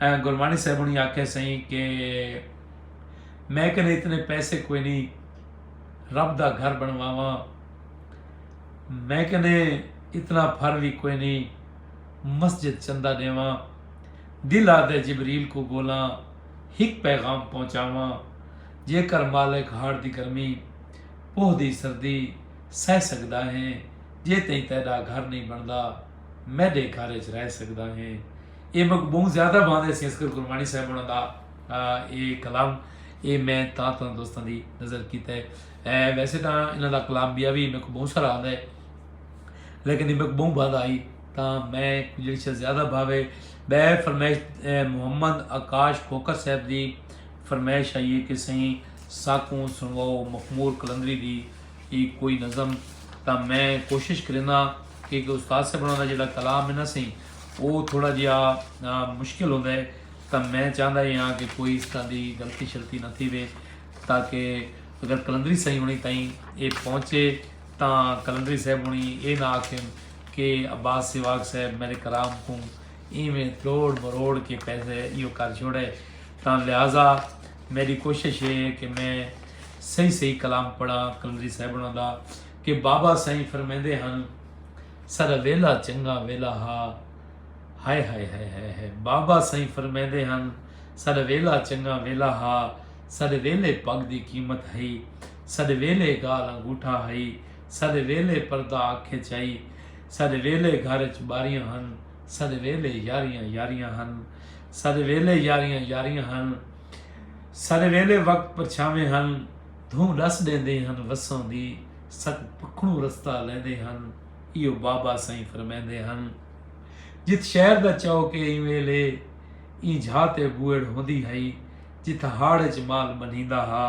گرمانی صاحب ہنی آکھیا سئیں کہ میں کنے اتنے پیسے کوئی نی رب دا گھر بنواواں میں کنے اتنا پھر وی کوئی نی مسجد چندہ ڈیواں دل آدھے جبریل کو بولاں ہک پیغام پہنچاواں جے کر مالک ہاڑ دی گرمی پوہ دی سردی سہ سگدا ہیں جے تئیں تیڈا گھر نی بندا میڈے گھر اچ رہ سگدا ہیں اے مک بہوں زیادہ بھاندے سی اصغر گرمانی صاحب ہونا دا اے کلام اے میں تاں تاں دوستان دی نظر کیتا ہے اے ویسے تاں انہاں دا کلام بیا بھی مک بہوں سارا آندہ ہے لیکن اے مک بہوں بھاندہ آئی تاں میں جڑی شاہ زیادہ بھاوے بے فرمیش محمد اکاش کھوکر صاحب دی فرمیش آئی ہے کہ سہی ساکوں سنواؤ مخمور کلندری دی ای کوئی نظم تاں میں کوشش کرینا کہ استاد صاحب ہونا دا جڑا کلام ہے نا سہی او تھوڑا جیہا مشکل ہوندا ہے تاں میں چاہندا ہی ہاں کہ کوئی اس طرح دی غلطی شلطی نہ تھیوے تاکہ اگر قلندری سائیں ہونی تائیں اے پہنچے تاں قلندری صاحب ہونی اے نہ آکھن کہ عباس سیواگ صاحب میرے کلام کوں ایویں تروڑ مروڑ کے پیسے ایو کر چھوڑے تاں لہذا میری کوشش اے کہ میں صحیح صحیح کلام پڑھاں قلندری صاحب ہوناں دا کہ بابا سائیں فرمیندے ہن سارا ویلا چنگا ویلا ہا ہائے ہائے ہائے ہائے ہائے بابا سائیں فرمیندے ہن سارا ویلا چنگا ویلا ہا سارے ویلے پگ دی قیمت ہئی سارے ویلے گال انگوٹھا ہئی سارے ویلے پردہ اکھ اچ ہئی سارے ویلے گھر اچ باریاں ہن سارے ویلے یاریاں یاریاں ہن سارے ویلے یاریاں یاریاں ہن سارے ویلے وقت پرچھاویں ہن دھوں ڈس ڈیندے ہن وسوں دی ست پکھنوں رستہ لیندے ہن ایہو بابا سئیں فرمیندے ہن جت شہر دا چوک اے ایں ویلھے ایں جھا تے بوئڑ ہوندی ہئی جتھاں ہاڑ اچ مال منھیندا ہا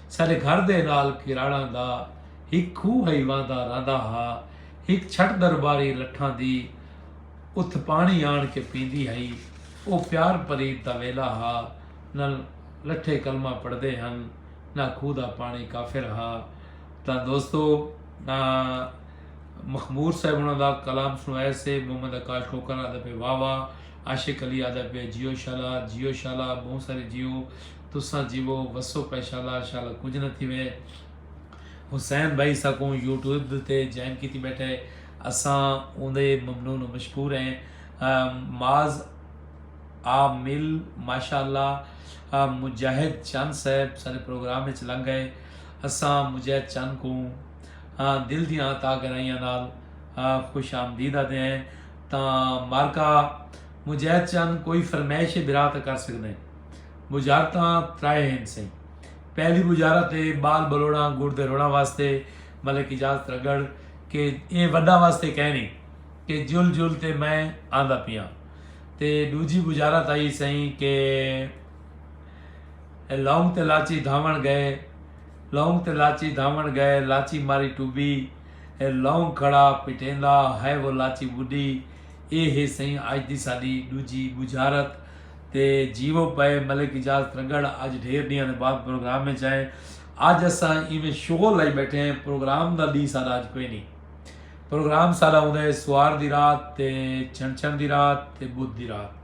ساڈے گھر دے نال کراڑاں دا ہک کھوہ ہئی وہندا رہندا ہا ہک چھٹ درباری لٹھاں دی اتھ پانی آن کے پیندی ہئی او پیار پریت دا ویلھا ہا نل لٹھے کلمہ پڑھدے ہن نہ کھوہ دا پاݨی کافر ہا تاں دوستو مخمور صاحب انہاں دا کلام سݨو اے سے محمد آکاش کھوکھر آہدا پئے واہ واہ عاشق علی آہدا پئے جیو شالا جیو شالا ٻہوں ساری جیو تساں جیوو وسو پئے شالا شالا کجھ نہ تھیوے حسین بھائی اساکوں یوٹیوب تے جوائن کیتی ٻیٹھے اساں اوندے ممنون و مشکور ہیں معاذ آ مل ماشاءاللہ مجاہد چن صاحب سارے پروگرام اچ لنگ گئے اساں مجاہد چن کوں دل دیاں عطا گرائیاں نال خوش آمدید آدے ہیں تاں مارکا مجاہد چن کوئی فرمائش برا تے کر سکدے ہیں بجارتاں ترائے ہیں سہی پہلی بجارت ہے بال بلوڑاں گڑ دے روڑاں واسطے ملک اجازت رگڑ کہ اے وڈا واسطے کہنی کہ جل جل تے میں آندا پیاں تے ڈوجھی بجارت آئی سئیں کہ لونگ تے لاچی دھاون گئے لونگ تے لاچی دھاون گئے لاچی ماری ٹوبی لونگ کھڑا پٹیندا ہائے وہ لاچی وڈی اے ہے سئیں اج دی ساڈی ڈوجھی بجارت تے جیو پئے ملک اجاز ترگڑ اج ڈھیر ڈیاں دے بعد پروگرام وچ آئے اج اساں ایویں شغل لائی بیٹھے ہیں پروگرام دا ڈی ساڈا اج کوئی نہیں پروگرام سارا ہوندا ہے سوار دی رات تے چھن چھن دی رات تے بدھ دی رات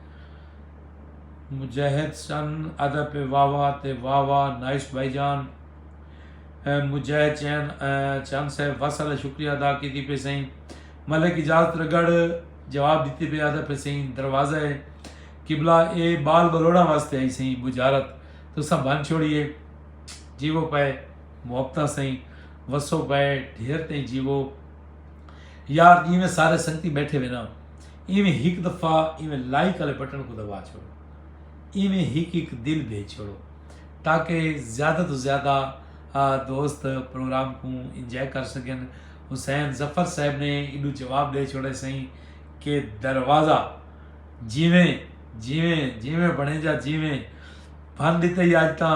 مجاہد سن ادب پہ واوا تے واوا نائس بھائی جان مجاہد چین چند صاحب وسل شکریہ ادا کیتی پہ سائیں ملک اجازت رگڑ جواب دیتی پہ آدھا پہ سائیں دروازہ ہے قبلہ اے بال بلوڑا واسطے آئی سائیں بجارت تو سا بن چھوڑیے جی وہ پائے محبتہ سائیں وسو پئے ڈھیر تئیں جیوو یار جیویں سارے سنگتی بیٹھے وے نا ایویں ہک دفعہ ایویں لائک والے بٹن کو دبا چھوڑو ایویں ہک ہک دل بھیج چھوڑو تاکہ زیادہ تو زیادہ دوست پروگرام کو انجوائے کر سکن حسین ظفر صاحب نے ایڈو جواب دے چھوڑے سائیں کہ دروازہ جیویں جیویں جیویں بنے جا جیویں بھن دیتے ہی آج تاں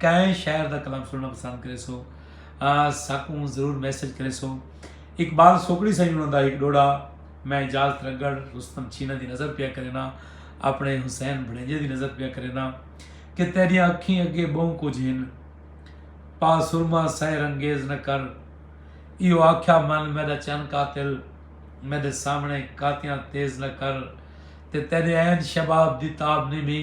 کئیں شاعر دا کلام سنڑنا پسند کریسو ساکوں ضرور میسج کریسو اقبال سوکڑی سائیں انہاں دا ہک ڈوڑا میں اعجاز ترگڑ رستم چھینا دی نظر پیا کرینا اپنے حسین بھڑینجے دی نظر پیا کرینا کہ تیریاں اکھیں اگے بہوں کچھ ہن پا سرما سحر انگیز نہ کر ایو آکھیا من میڈا چن قاتل میڈے سامنے کاتیاں تیز نہ کر تے تیرے عین شباب دی تاب نی مھی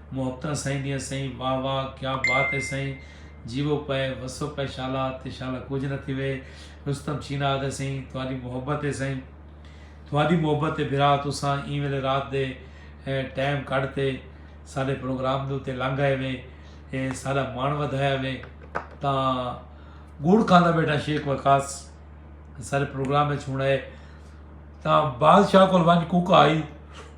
محبتاں سئیں دیاں سئیں واہ واہ کیا بات اے سئیں جیوو پئے وسو پئے شالا تے شالا کجھ نہ تھیوے رستم چھینا آدھے سئیں تہاڈی محبت اے سئیں تہاڈی محبت اے بھرا تساں ایں ویلے رات دے ٹائم کڈھ تے ساڈے پروگرام دے اتے لنگ آئے وے اے ساڈا مان ودھایا وے تاں گڑ کھاندا بیٹا شیخ وقاص سارے پروگرام وچ ہن آئے تاں بادشاہ کول ونج کوکا آئی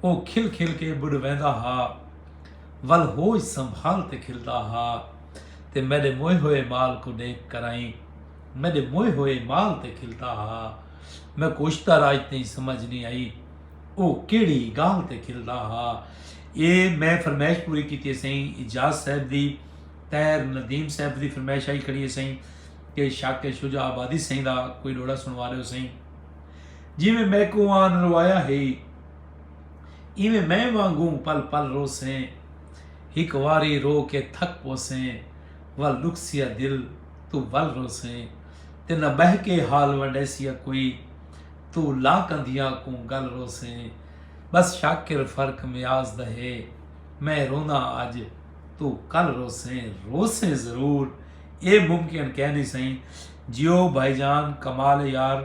او کھل کھل کے ٻݙویندا ہا ول ہوش سنبھال تے کھلدا ہا تے میݙے موئے ہوئے مال کوں ݙیکھ کرائیں میݙے موئے ہوئے مال تے کھلدا ہا میکوں اشتر اڄ تئیں سمجھ نی آئی او کیڑھی ڳالھ تے کھلدا ہا اے میں فرمائش پوری کیتی ہے سائیں اجاز صاحب دی تیر ندیم صاحب دی فرمائش آئی کھڑی ہے سائیں کہ شاکر شجاع آبادی سائیں دا کوئی ݙوہڑا سݨوا ݙیو سائیں جیویں میکوں آن روایا ہئی ایویں میں وانگوں پل پل روسیں ہک واری رو کے تھک پوسیں ول ݙکھسیا دل توں ول روسیں تے نہ ٻہہ کے حال ونڈیسیا کوئی توں لا کندھیاں کوں ڳل روسیں بس شاکر فرق میاز دا ہے میں روندا اڄ توں کل روسیں روسیں ضرور اے ممکن کئے نی سئیں جیو بھائی جان کمال اے یار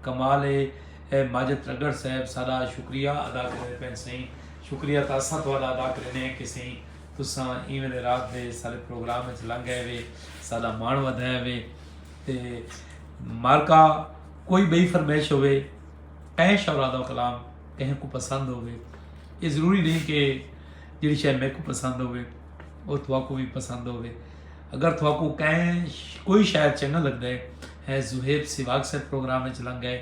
کمال اے ماجد ترگڑ صاحب ساڈا شکریہ ادا کریندے پین سئیں شکریہ تا اساں تہاڈا ادا کریندے ہیں کہ سئیں تساں ایویں دے رات دے سارے پروگرام وچ لنگ گئے وے ساڈا مان ودھایا وے تے مارکا کوئی بئی فرمائش ہوے اے شعرا دا کلام کہیں کو پسند ہوے یہ ضروری نہیں کہ جڑی شے میرے کو پسند ہوے وہ تھوا کو بھی پسند ہوے اگر تھواکوں کہیں کوئی شاعر چنگا لگدے ہے زوہیب سیواگ صاحب پروگرام وچ لنگ گئے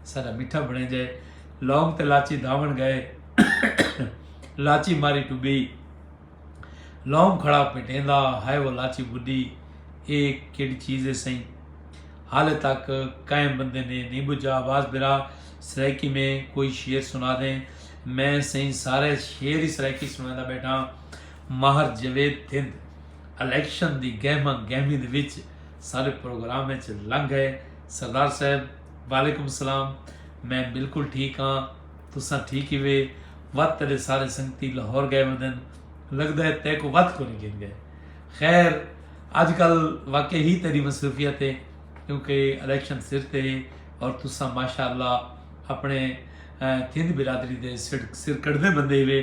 سارا میٹھا بنے جائے لونگ تے لاچی دھاون گئے لاچی ماری ٹبی لونگ کھڑا پٹیندا ہائے وہ لاچی بڈی اے کیڑی چیز ہے سائیں حال تک کہیں بندے نے نہیں بجھا آواز برا سرائیکی میں کوئی شعر سنا دیں میں سائیں سارے شعر ہی سرائیکی سنانا بیٹھا ماہر جاوید تھند الیکشن دی گہما گہمی دے وچ سارے پروگرام اچ لنگھ گئے سردار صاحب وعلیکم السلام میں بالکل ٹھیک ہاں تساں ٹھیک ہیوے وت تیڈے سارے سنگتی لاہور گئے ودن لگدا ہے تیکو وت کونی گھن گئے خیر اج کل واقعی ہی تیری مصروفیت ہے کیونکہ الیکشن سر تے ہے اور تساں ماشاءاللہ اپنے تھند برادری دے سر کڑدے بندے ہیوے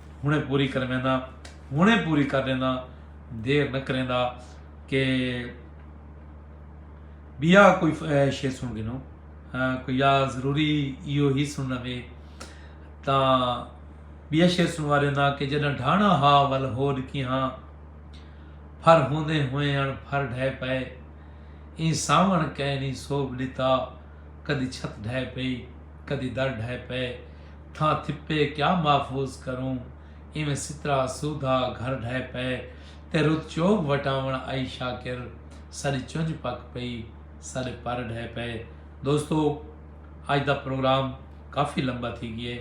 ہݨیں پوری کروینداں ہݨیں پوری کر ݙینداں دیر نہ کریندا کہ بیا کوئی شے سن گھنو کوئی یا ضروری ایو ہی سننا وے تاں بیا شے سنوا ݙینداں کہ جݙاں ڈھانا ہا ول ہو ݙکی ہاں پھر ہوندے ہوئیں اݨ پھر ڈھے پئے ایں ساوݨ کئے نہیں سوب ݙتا کدی چھت ڈھے پئی کدی در ڈھے پئے تھاں تھپے کیا محفوظ کروں ایویں سترا سودھا گھر ڈھہ پئے تے رت چوگ وٹاوݨ آئی شاکر ساݙی چنج پک پئی ساݙے پر ڈھہ پئے دوستو اج دا پروگرام کافی لمبا تھی گئے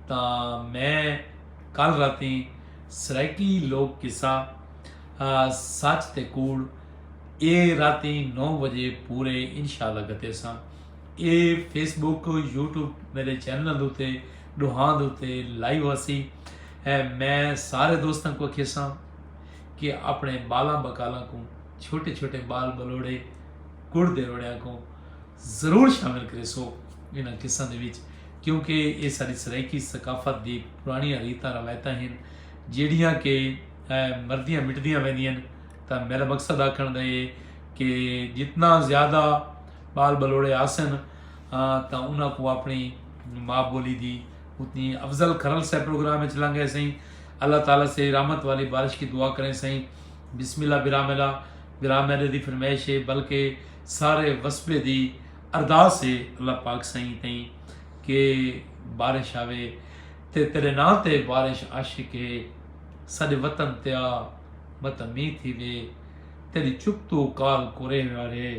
تاں میں کل راتیں سرائیکی لوک قصہ سچ تے کوڑ اے راتیں نو وجے پورے انشاءاللہ گھتیساں اے فیس بک یوٹیوب میرے چینل دوتے ڈوہاں دوتے لائیو ہسی ہے میں سارے دوستاں کو کھیساں کہ اپنے بالاں بکالاں کو چھوٹے چھوٹے بال بلوڑے کڑ دے روڑیاں کو ضرور شامل کرے سو انہاں قصہ دے وچ کیونکہ اے ساری سرائیکی ثقافت دی پرانی ریتاں روایتاں ہیں جیڑیاں کہ مردیاں مٹدیاں ویندیاں تا میرا مقصد آکھن دا ہے کہ جتنا زیادہ ٻال ٻلوڑے آسن تاں انہاں کوں اپݨی ماء بولی دی اتنی افضل کھرل سئے پروگرام اچ لنگے سئیں اللہ تعالی سے رحمت والی بارش کی دعا کریں سئیں بسم اللہ براملا براملے دی فرمائش ہے بلکہ سارے وسبے دی ارداس ہے اللہ پاک سئیں تئیں کہ بارش آوے تے تیرے نا تے بارش عاشق ہے سارے وطن تیا متمی تھی وے تیری چپ تو کال کورے ہوئے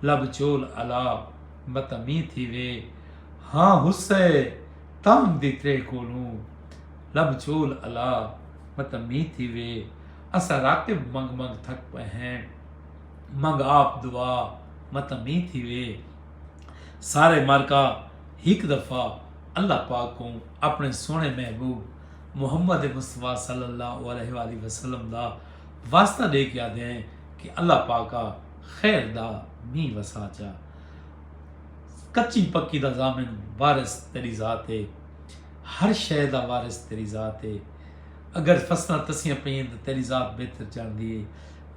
لب چول الاپ متمی تھیوے ہاں حصہ تام دی تریہ کولوں لب چول الاپ متمی تھیوے اساں راکب منگ منگ تھک پئے ہیں منگ آپ دعا متمی تھیوے سارے مارکا ہک دفعہ اللہ پاک کو اپنے سونے محبوب محمد مصطفیٰ صلی اللہ علیہ وآلہ وسلم دا واسطہ دے کے آدھے ہیں کہ اللہ پاکا خیر دا مینہ وسا چا کچی پکی دا ضامن وارث تیری ذات اے ہر شے دا وارث تیری ذات اے اگر فصلاں تسیاں پئین تاں تیری ذات بہتر جاندی اے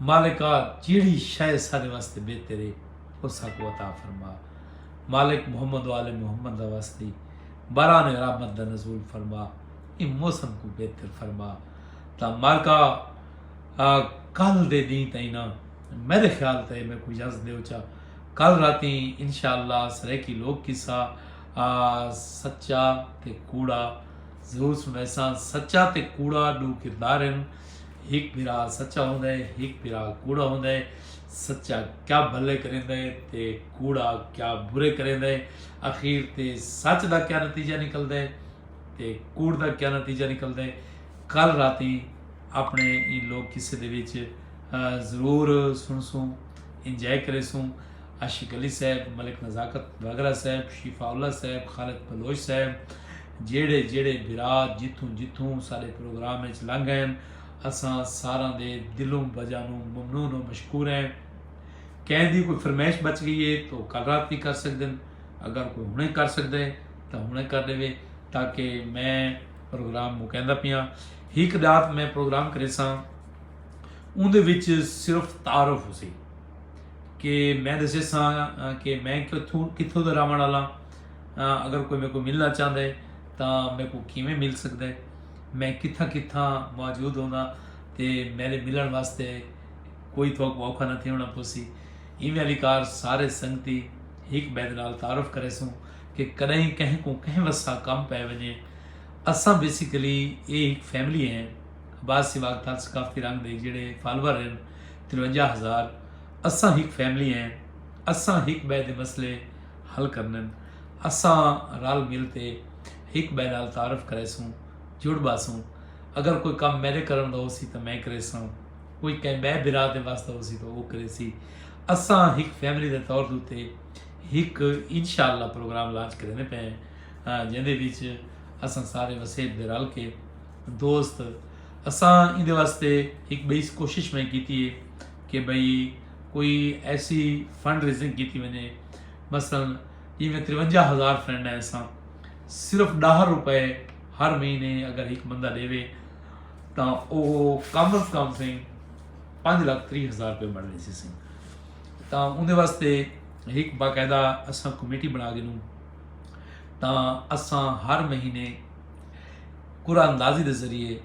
مالکا جیڑھی شے ساڈے واسطے بہتر اے او ساکوں عطا فرما مالک محمد و آل محمد دا واسطی باران رحمت دا نزول فرما اے موسم کو بہتر فرما تا مالکا کل دے دین تائیں نہ میݙے خیال تے میکوں اجازت ݙیو چا کل راتیں انشاءاللہ سرائیکی لوک قصہ سچا تے کوڑا ضرور سݨیساں سچا تے کوڑا ݙو کردار ہن ہک بھرا سچا ہوندا ہے ہک بھرا کوڑا ہوندا ہے سچا کیا بھلے کریندا ہے تے کوڑا کیا برے کریندا ہے اخیر تے سچ دا کیا نتیجہ نکلدا ہے تے کوڑ دا کیا نتیجہ نکلدا ہے کل راتیں اپݨے ایں لوک قصے دے وچ ضرور سݨسوں، انجوائے کریسوں، عاشق علی صاحب، ملک نزاکت گاگرا صاحب، شیفاء اللہ صاحب، خالد بلوچ صاحب جیڑھے جیڑھے بھرا جتھوں جتھوں ساݙے پروگرام وچ لنگھ ڳئن اساں ساراں دے دلوں بجانوں ممنون و مشکور ہیں۔ کہیں دی کوئی فرمائش بچ ڳئی ہے تاں او کل رات وی کر سڳدن اگر کوئی ہݨے کر سڳدا ہے تاں ہݨے کر ݙیوے تاکہ میں پروگرام مکیندا پیاں۔ ہک ڈات میں پروگرام کریساں اوندے وچ صرف تعارف ہوسی کہ میں دسیساں کہ میں کتھوں کتھوں دا راوݨ والا اگر کوئی میرے کو ملنا چاہندا ہے تا میرے کو کیویں مل سکدا ہے میں کتھاں کتھاں موجود ہوندا تے میرے ملن واسطے کوئی تھو کو اوکھا نہ تھیونا پوسی ایویں والی کار سارے سنگتی ہک بید نال تعارف کریسوں کہ کدیں کہیں کو کہیں وسا کم پے ونجے اساں بیسیکلی اے ہک فیملی ہیں عباس سیواگ تھال ثقافتی رنگ دے جیڑھے فالور ہن ترونجا ہزار اساں ہک فیملی ہیں اساں ہک بئے دے مسئلے حل کرنن اساں رل مل تے ہک بئے نال تعارف کریسوں جڑ باسوں اگر کوئی کم میڈے کرن دا ہوسی تاں میں کریساں کوئی کہیں بئے بھرا دے وس دا ہوسی تاں او کریسی اساں ہک فیملی دے طور تے ہک انشاءاللہ پروگرام لانچ کریندے پئے ہیں جیندے وچ اساں سارے وسیب دے رل کے دوست اساں ایندے واسطے ہک بئی کوشش میں کیتی ہے کہ بھئی کوئی ایسی فنڈ ریزنگ کیتی ونجے مثلا جی میں ترونجا ہزار فرینڈ ہیں اساں صرف ڈاہ روپے ہر مہینے اگر ہک بندہ دے وے تو او کم از کم سیں پانچ لاکھ تری ہزار روپے بن ویسی سیں تو اندے واسطے ہک باقاعدہ اساں کمیٹی بنا گنوں تاں اساں ہر مہینے قرعہ اندازی دے ذریعے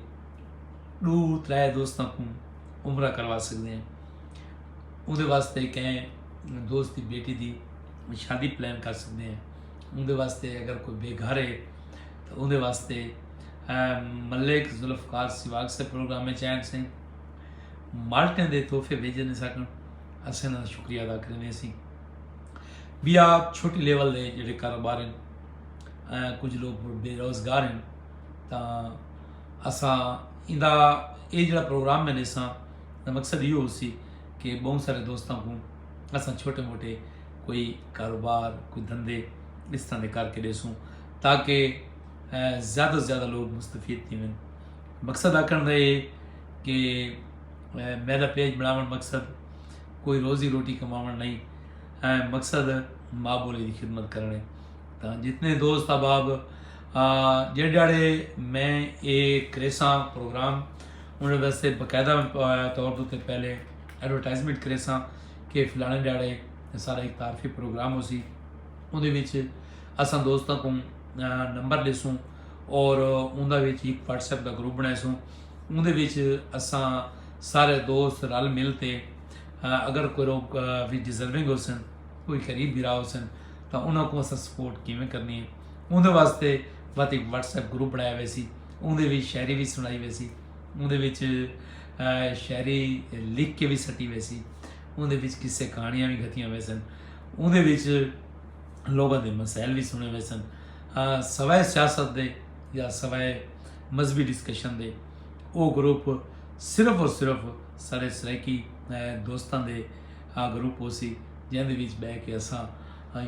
ڈو ترے دوستاں کوں عمرہ کروا سکدے ہیں اندے واسطے کہیں دوست دی بیٹی دی شادی پلان کر سکدے ہیں اندے واسطے اگر کوئی بے گھر ہے تو اندے واسطے ملک ذوالفقار سواگ سے پروگرام میں چین سے مالٹیں دے تحفے بھیجنے سکن اسے نہ شکریہ ادا کرنے سی بیا چھوٹی لیول دے جڑے کاروبار ہیں کچھ لوگ بے روزگار ہیں تا اسا ایندا اے جڑا پروگرام میں نیسا دا مقصد یہ ہو سی کہ بہت سارے دوستاں کو اسا چھوٹے موٹے کوئی کاروبار کوئی دھندے اس طرح دے کر کے دے سوں تاکہ زیادہ سے زیادہ لوگ مستفید تھی ہیں مقصد آکھن دا اے کہ میرا پیج بناون مقصد کوئی روزی روٹی کماون نئیں اے مقصد ماء بولی دی خدمت کرنے تاں جتنے دوست احباب جڑ جاڑے میں اے کریساں پروگرام انہاں واسطے باقاعدہ طور تے پہلے ایڈورٹائزمنٹ کریساں کہ فلانے جاڑے سارا ایک تعارفی پروگرام ہو سی اون دے وچ اساں دوستاں کو نمبر لیسوں اور اون دا وچ ایک واٹس ایپ دا گروپ بنائے سوں اوندے وچ اساں سارے دوست رل مل تے اگر کوئی لوگ وی ڈیزرونگ ہوسن کوئی غریب بھرا ہوسن تاں انہاں کوں اساں سپورٹ کیویں کرنی ہے اوندے واسطے وت ایک واٹس ایپ گروپ بنایا ویسی اوندے وچ شاعری وی سنائی ویسی اوندے وچ شاعری لکھ کے وی سٹی ویسی اوندے وچ قصے کہانیاں وی گھتیاں ویسن اوندے وچ لوگاں دے مسائل وی سنے ویسن سوائے سیاست دے یا سوائے مذہبی ڈسکشن دے او گروپ صرف و صرف ساڈے سرائیکی دوستاں دے گروپ ہوسی جیندے وچ بہ کے اساں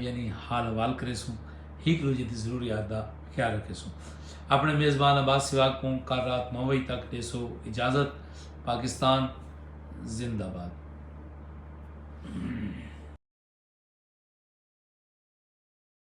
یعنی حال حوال کریسوں ہیک دوجے دی ضروریات دا خیال رکھیسوں اپنے میزبان عباس سواگ کوں کل رات نو وجے تک ڈیسو اجازت پاکستان زندہ باد